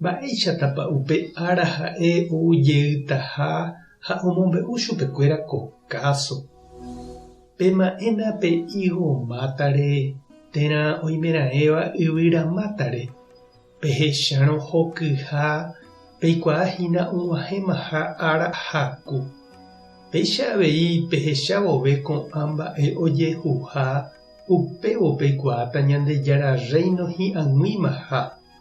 Mba'éichatapa upe ára ha'e ou jeytaha ha omombe'u chupekuéra ko káso, Pema'ẽna pe higo mátare térã oimeraẽva yvyra mátare, pehechárõ hokyha peikuaa hína og̃uahẽmaha ára haku. Péicha avei pehecha vove ko'ã mba'e ojehuha, upévo peikuaáta Ñandejára Rréino hi'ag̃uimaha.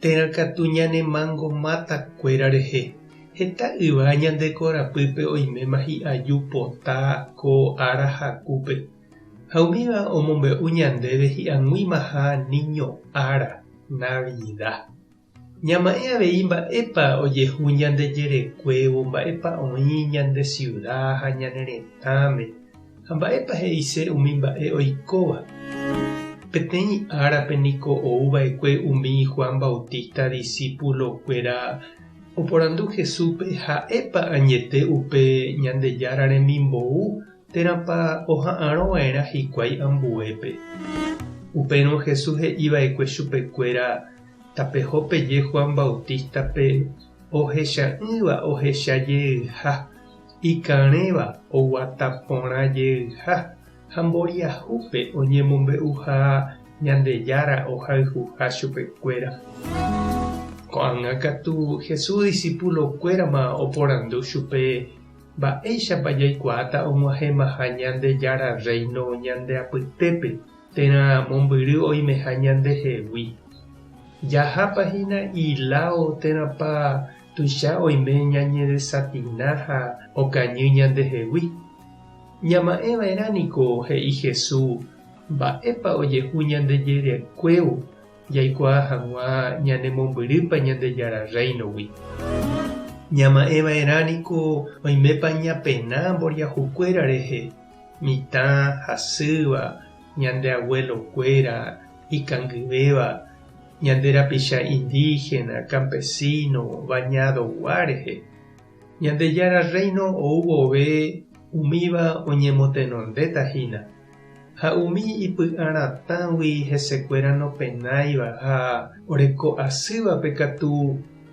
Térã katu ñanemango máta kuéra rehe. Heta yva ñande korapýpe oiméma hi'aju pota ko ára hakúpe. Ha umíva omombe'u ñandéve hi'aguĩmaha niño ára, Navida. Ñama'ẽ avei mba'épa ojehu ñande jerekuévo, mba'épa oĩ ñande siuda ha ñane retãme. Ha mba'épa he'ise umi mba'e oikóva? Peteĩ árape niko ou va'ekue umi Juan Bautista disípulokuéra oporandu Jesúspe ha'épa añete upe Ñandejára remimbou térãpa oha'arõ va'erã hikuái ambuépe. Upérõ Jesús he'i va'ekue chupekuéra tapeho peje Juan Bautístape ohecha'ỹva ohecha jeyha ikarẽva oguata porã jeyha ha mboriahúpe oñemombe'uha Ñandejára ohayhuha chupekuéra. Ko'ág̃a katu Jesús disípulokuérama oporandu chupe mba'éichapa jaikuaáta og̃uahẽmaha Ñandejára Rréino ñande apytépe térã mombyry oimeha ñandehegui. Jahápa hína iláo térãpa Tuicha oime ñañedesafina ha okañy ñandehegui. Ñama'ẽva'erã niko he'i Jesús mba'épa ojehu ñande jerekuévo jaikuaa hag̃ua ñanemombyrýpa Ñandejára Rréinogui. Ñama'ẽva'erã niko oimépa ñapena mboriahukuéra rehe, mitã hasýva, ñande aguelokuéra ikangyvéva, ñande rapicha indígena, campesino, bañadogua rehe. Ñandejára Rréino ou vove umíva oñemotenondéta hína, ha umi ipy'a ratãgui hesekuéra nopenáiva ha oreko asývape katu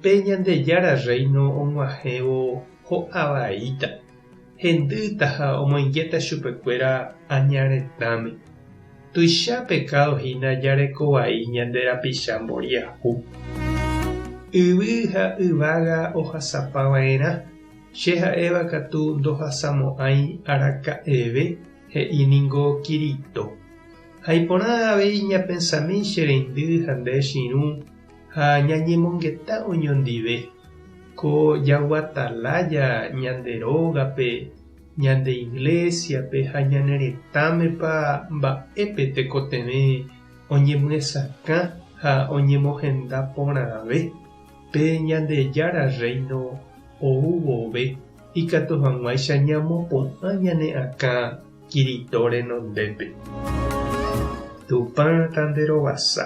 pe Ñandejára Rréino og̃uahẽvo ho'a vaíta. Hendýta ha omoingéta chupekuéra aña retãme. Tuicha pekádo hína jareko vai ñande rapicha mboriahu. Yvy ha yvága ohasapa va'erã, che ha'éva katu ndohasamo'ãi araka'eve, he'i ningo Kirito. Ha iporã avei ñapensami che reindy ha nde chirũ ha ñañemongeta oñondive ko jagua talája ñande rógape, ñande iglésiape ha ñane retãmepa mba'épe tekotevẽ oñemyesakã ha oñemohenda porãve pe Ñandejára Rréino ou vove ikatu hag̃uáicha ñamopu'ã ñane akã Kirito renondépe. Tupã tanderovasa.